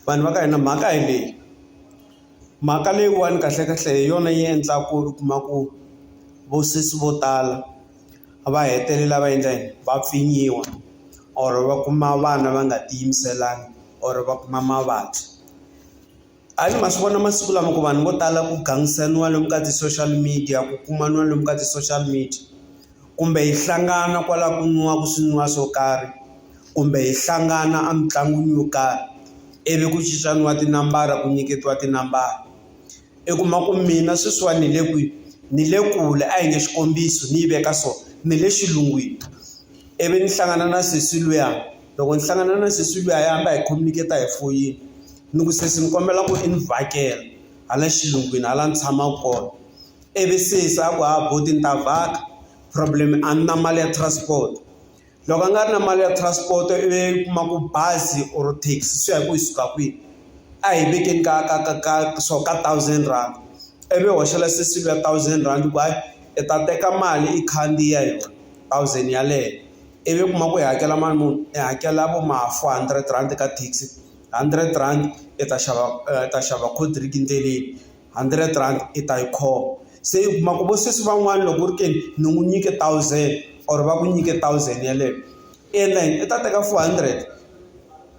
Vanhu va ka hina mhaka hi leyi mhaka leyiwani kahlekahle hi yona yi endlaku u kuma ku vo sesi vo tala va hetelela va endla yini va pfinyiwa or va kuma vana va nga ti yimiselanga or va kuma mavabyi, a ni ma swi vona masiku lama ku vanhu vo tala ku gangisaniwa lomu ka ti-social media ku kumaniwa lomu ka ti-social media. kumbe hi hlangana kwala ku nwiwaka swinwiwa swo karhi kumbe hi hlangana a mitlangwini yo karhi ivi ku cincaniwa tinambara ku nyiketiwa tinambara i kuma ku mina sweswiwani ni le kwihi ni le kule a hi nge xikombiso ni yi veka so ni le xilungwini ivi ni hlangana na sesi luya loko ni hlangana na sesi luya hi hamba hi khomeketa hi foyini ni ku sesi ni kombela ku i ni vhakela hala xilungwini hala ni tshamaku kona. ivi sesi a ku ha buti ni ta vhaka problem a ni na mali ya transport loko a nga ri na mali ya transport i vi u kuma ku bazi or taxi swi ya hi ku yi suka kwihi a hi vekeni ka ka ka ka swo ka thousand rand ivi u hoxela sesi luya thousand rand ku hayi i ta teka mali i khandziya yona thousand yaleyo ivi u kuma ku i hakela mali muni i hakela vo ma four hundred rand ka taxi hundred rand i ta xava i ta xava cold drink ndleleni. hundred rand i ta yi khoma se u kuma ku vo sesi van'wani loko u ri ke ni ni n'wi nyike thousand or va ku nyike thousand yeleyo i endla yini i ta teka four hundred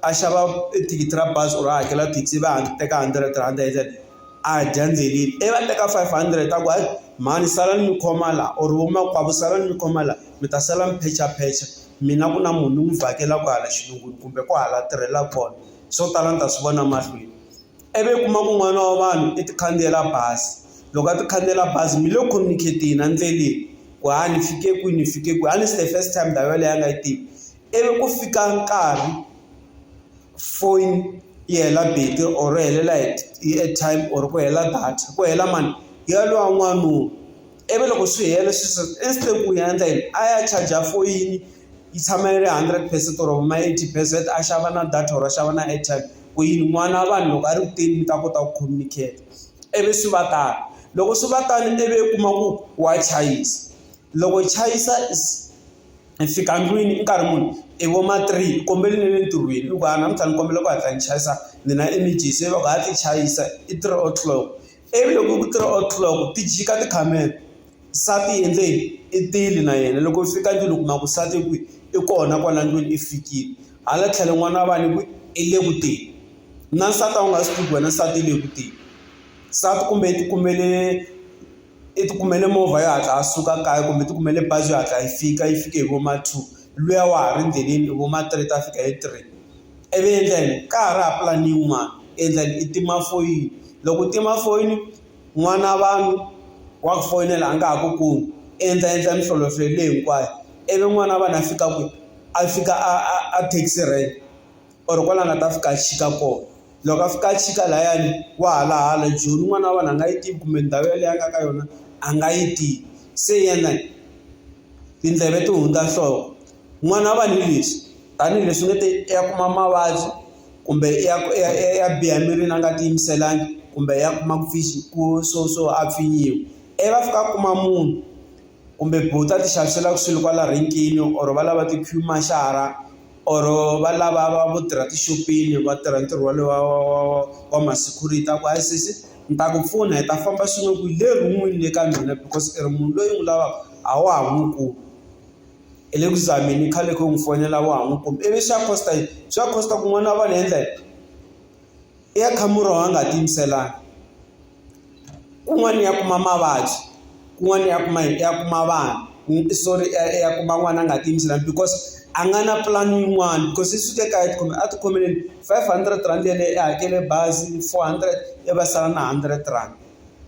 a xava e thikithi ra bazi or a hakela thekisi ivi a teka hundred rand a dya ndzheleni ivi a teka five hundred a ku hayi mhani sala ni mi khoma la or vo makwavo sala ni mi khoma la mi ta sala mi phechaphecha mina ku na munhu ni n'wi vhakela kwala xilungwini kumbe kwahala a tirhela kona swo tala ni ta swi vona mahlweni. ivi u kuma ku n'wana wa vanhu i ti khandziyela bazi loko a ti khandziyela bazi mi le ku communicate-eni endleleni ku ha ni fike kwini ni fike kwihi a ni se the first time ndhawu yeleyo a nga yi tivi ivi ku fika nkarhi foni yi hela battery or ri helela hi airtime or ku hela data ku hela mali ya lowa n'wanuna ivi loko swi hela swi se instant ku ya endla yini a ya charger foyini. yi tshama yi ri hundred percent or ma eighty percent a xava na data or a xava na airtime ku yini n'wana wa vanhu loko a ri ku teni mi ta kota ku communicate ivi swi va tano loko swi va tano ivi u kuma ku wa chayisa loko hi chayisa is hi fika ndlwini i nkarhi muni i vo ma three hi kombela ni le ntirhweni hikuva namuntlha ni kombela ku hatla ni chayisa ni na emergency va ku ha ti chayisa i three o'clock. ivi loko ku three o'clock ti jika tikhamera nsati i endle yini i tile na yena loko u fika ndlwini u kuma ku nsati i kwihi i kona kwala ndlwini i fikile hala tlhelo n'wana wa vanhu i kwihi i le ku teni na nsati a wu nga swi tivi ku wena nsati i le ku teni nsati kumbe i ti kumele i ti kumele movha yo hatla a suka kaya kumbe ti kumele bazi yo hatla yi fika yi fike hi vo ma two luya wa ha ri endleleni vo ma three ta fika hi three. ivi endlani ka ha ri ha plan yin'wana endlani i tima foyini loko u tima foyini n'wana vanhu wa ku foyinela a nga ha ku kumi endla endla minhlolohlolo leyi hinkwayo ivi n'wana wa vanhu a fika kwihi a fika a taxi rank or kwala a nga ta fika a chika kona loko a fika a chika layani wa hala hala joni n'wana wa vanhu a nga yi tivi kumbe ndhawu yaleyo a nga ka yona a nga yi tivi se yena tindleve ti hundza nhloko. n'wana wa vanhu hi leswi tanihileswi va nge i ya kuma mavabyi kumbe i ya i ya i ya i ya biha emirini a nga ti yimiselanga kumbe ya kuma ku ku swo swo a pfinyiwa i va fika a kuma munhu kumbe buti a ti xaviselaka swilo kwala renkeni or va lava ti-queue marshal-a or va lava va vo tirha tixopeni va tirha ntirho wolowo wa wa wa wa wa ma security a ku hayi sesi ni ta ku pfuna hi ta famba swin'we kwihi le rin'wini le ka mina because i ri munhu loyi ni n'wi lavaka a wa ha n'wi kumi. hi le ku zameni i khale ku n'wi fonela wa ha n'wi kumi ivi xa cost-a yini swa cost-a ku n'wana wa vona hi endla yini i ya kha murhi a nga tiyimiselanga kun'wana i ya kuma mavabyi kun'wana i ya kuma yini i ya kuma vanhu i sorry i ya i ya kuma n'wana a nga tiyimiselanga because a nga na pulani yin'wani because i suke kaya a tikhome a tikhomile five hundred rand yeleyo i hakele bazi four hundred i va sala na hundred rand.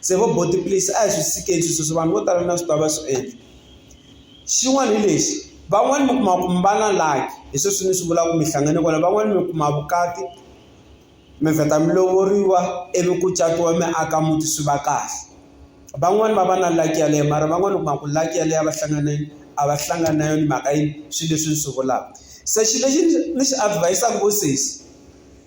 se vo buti please a hi swi tshikeni swi sweswo vanhu vo tala na swi tiva va swi endla xin'wana hi lexi van'wani mi kuma ku mi va na luck hi sweswi ni swi vulaku mi hlangane kwala van'wani mi kuma vukati mi vheta mi lovoriwa ivi ku catiwa mi aka muti swi va kahle van'wani va va na luck yaleyo mara van'wani u kuma ku luck yaleyo a va hlangane a va hlangani na yona mhaka yini swi leswi ni swi vulaku se xi lexi ni xi advise-ku vo sesi.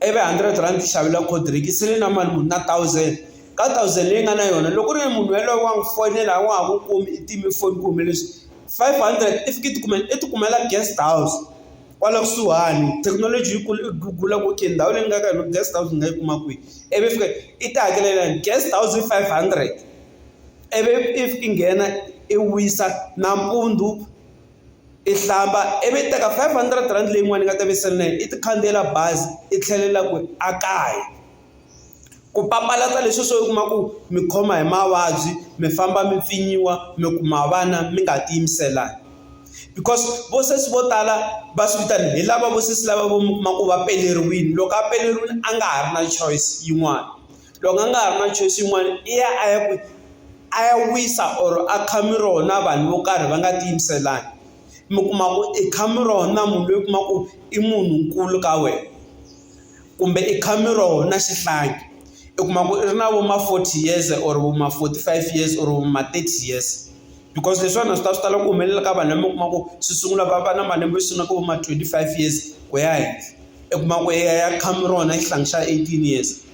i ve hundred rand ti xavela cold drink se ni na mali muni na thousand ka thousand leyi nga na yona loko ku ri munhu yaloye wa n'wi fonela a wa ha n'wi kumi i time foni ku humelele swini five hundred i fika i ti kumela i ti kumela guest house kwala kusuhani thekinoloji yi kule i gugula ku okay ndhawu leyi nga ka yona guest house ni nga yi kuma kwihi i vi fika i ti hakelela yena guest house i five hundred i vi if i nghena i wisa nampundzu I hlamba ivi i teka five hundred rand leyin'wana ni nga ta ve ni sele na yona i ti khandziyela bazi i tlhelela kwini a kaya ku papalata leswi swo u kuma ku mi khoma hi mavabyi mi famba mi pfinyiwa mi kuma vana mi nga ti yimiselanga because vo sesi vo tala va swi vitana hi lava vo sesi lava vo mi kuma ku va peleriwile loko a peleriwile a nga ha ri na choice yin'wana. loko a nga ha ri na choice yin'wana i ya a ya ku a ya wisa or a kha miroho na vanhu vo karhi va nga ti yimiselanga mi kuma ku i kha miroho na munhu loyi u kuma ku i munhu nkulu ka wena kumbe i kha miroho na xihlangi i kuma ku i ri na vo ma forty years or vo ma forty five years or vo ma thirty years because leswiwani a swi ta swi tala ku humelela ka vanhu lama u kuma ku swi sungula va va na malembe swi nga ka vo ma twenty five years ku ya henhla i kuma ku i ya kha miroho na xihlangi xa eighteen years.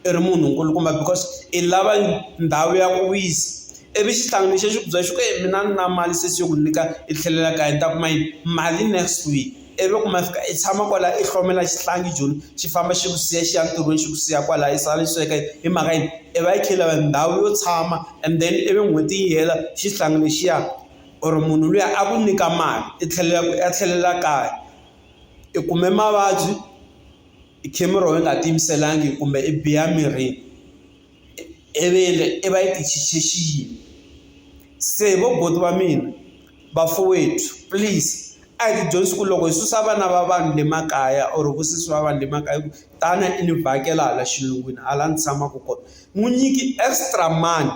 i ri munhu nkulukumba because i lava ndhawu ya ku wisa ivi xihlangi lexi xi ku byela xi ku eeh mina a ni na mali se xi yo ku nyika i tlhelela kaya ni ta kuma yini mali next week ivi loko ma fika i tshama kwala i hlomela xihlangi joni xi famba xi ku siya xi ya ntirhweni xi ku siya kwala i sala i sweka hi mhaka yini i va i kha i lava ndhawu yo tshama and then ivi n'hweti yi hela xihlangi lexiya or munhu luya a ku nyika mali i tlhelela ku ya tlhelela kaya i kume mavabyi. i camera wena u nga tiyimiselanga kumbe i biha mirini i vi endle i va i xi xiyimo se vo buti va mina vafowetu please a hi dyondzi ku loko hi susa vana va vanhu le makaya or ku susiwa vanhu le makaya ku tana i ni vhakela hala xilungwini hala ni tshamaka kona n'wi nyiki extra mani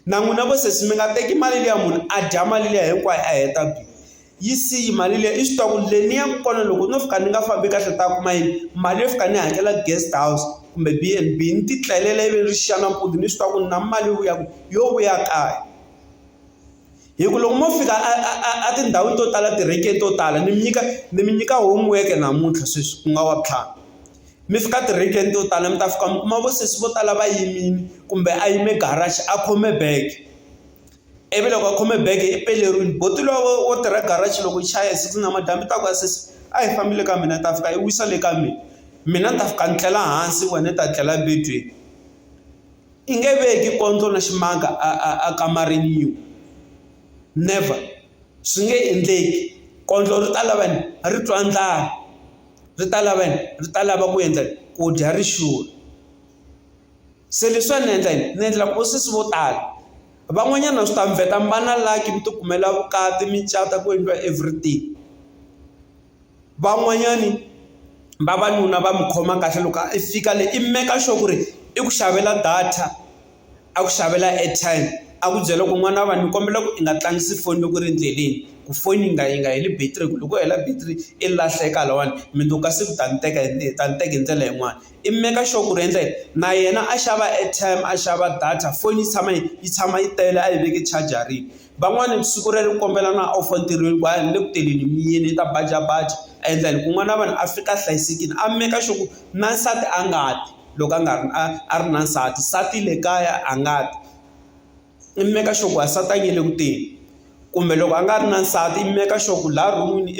na n'wina vo sesi mi nga teki mali liya munhu a dya mali liya hinkwayo a heta bindzu. yi siyi mali liya i swi tiva ku le ni yaka kona loko no fika ni nga fambi kahle ni ta kuma yini mali yo fika ni hakela guest house kumbe B_N_B ni ti tlelela ivi ni ri xiya nampundzu ni swi tiva ku ni na mali yo vuya yo vuya kaya hi ku loko mo fika a a a a tindhawini to tala tirenkeni to tala ni mi nyika ni mi nyika homework namuntlha sweswi ku nga wa vutlhari mi fika tirenkeni to tala mi ta fika mi kuma vo sesi vo tala va yimile kumbe a yime garage a khome bag. ivi loko a khome bege i pele rini buti lowo wo tirha garage loko yi chaya hi six namadyambu i ta ku a sesi a hi fambi le ka mina ni ta fika yi wisa le ka mina mina ni ta fika ni tlela hansi wena i ta tlela ebedweni i nge veki kondlo na ximanga a a a kamarini yin'we never swi nge endleki kondlo ri ta lava yini ri twa ndlala ri ta lava yini ri ta lava ku endla ku dya ri xurha. se leswiwa ni endla yini ni endla ku sesi vo tala van'wanyana swi ta mi vheta mi va na lucky mi ti kumela vukati mi cata ku endliwa everything van'wanyani vavanuna va mi khoma kahle loko i fika le i make sure ku ri i ku xavela data a ku xavela airtime a ku byela ku n'wana wa vanhu ni kombela ku i nga tlangisi foni loko ri endleleni ku foni yi nga yi nga heli battery hi ku loko u hela battery i lahleka lahawani mundzuku ka siku u ta ni teka hi ta ni teka hi ndlela yin'wani. i make sure ku ri endla yini na yena a xava airtime a xava data foni yi tshama yi yi tshama yi tele a yi veke chajareni. Van'wani siku rero u kombela na off entirhweni ku hayi ni le ku tirheni ni yimile yi ta bajabaja a endla yini ku n'wana wa vanhu a fika a hlayisekile a make sure ku na nsati a nga ti loko a nga ri a a ri na nsati, nsati le kaya a nga ti i make sure ku wansati a nge le ku teni kumbe loko a nga ri na nsati i make sure ku laha ron'wini .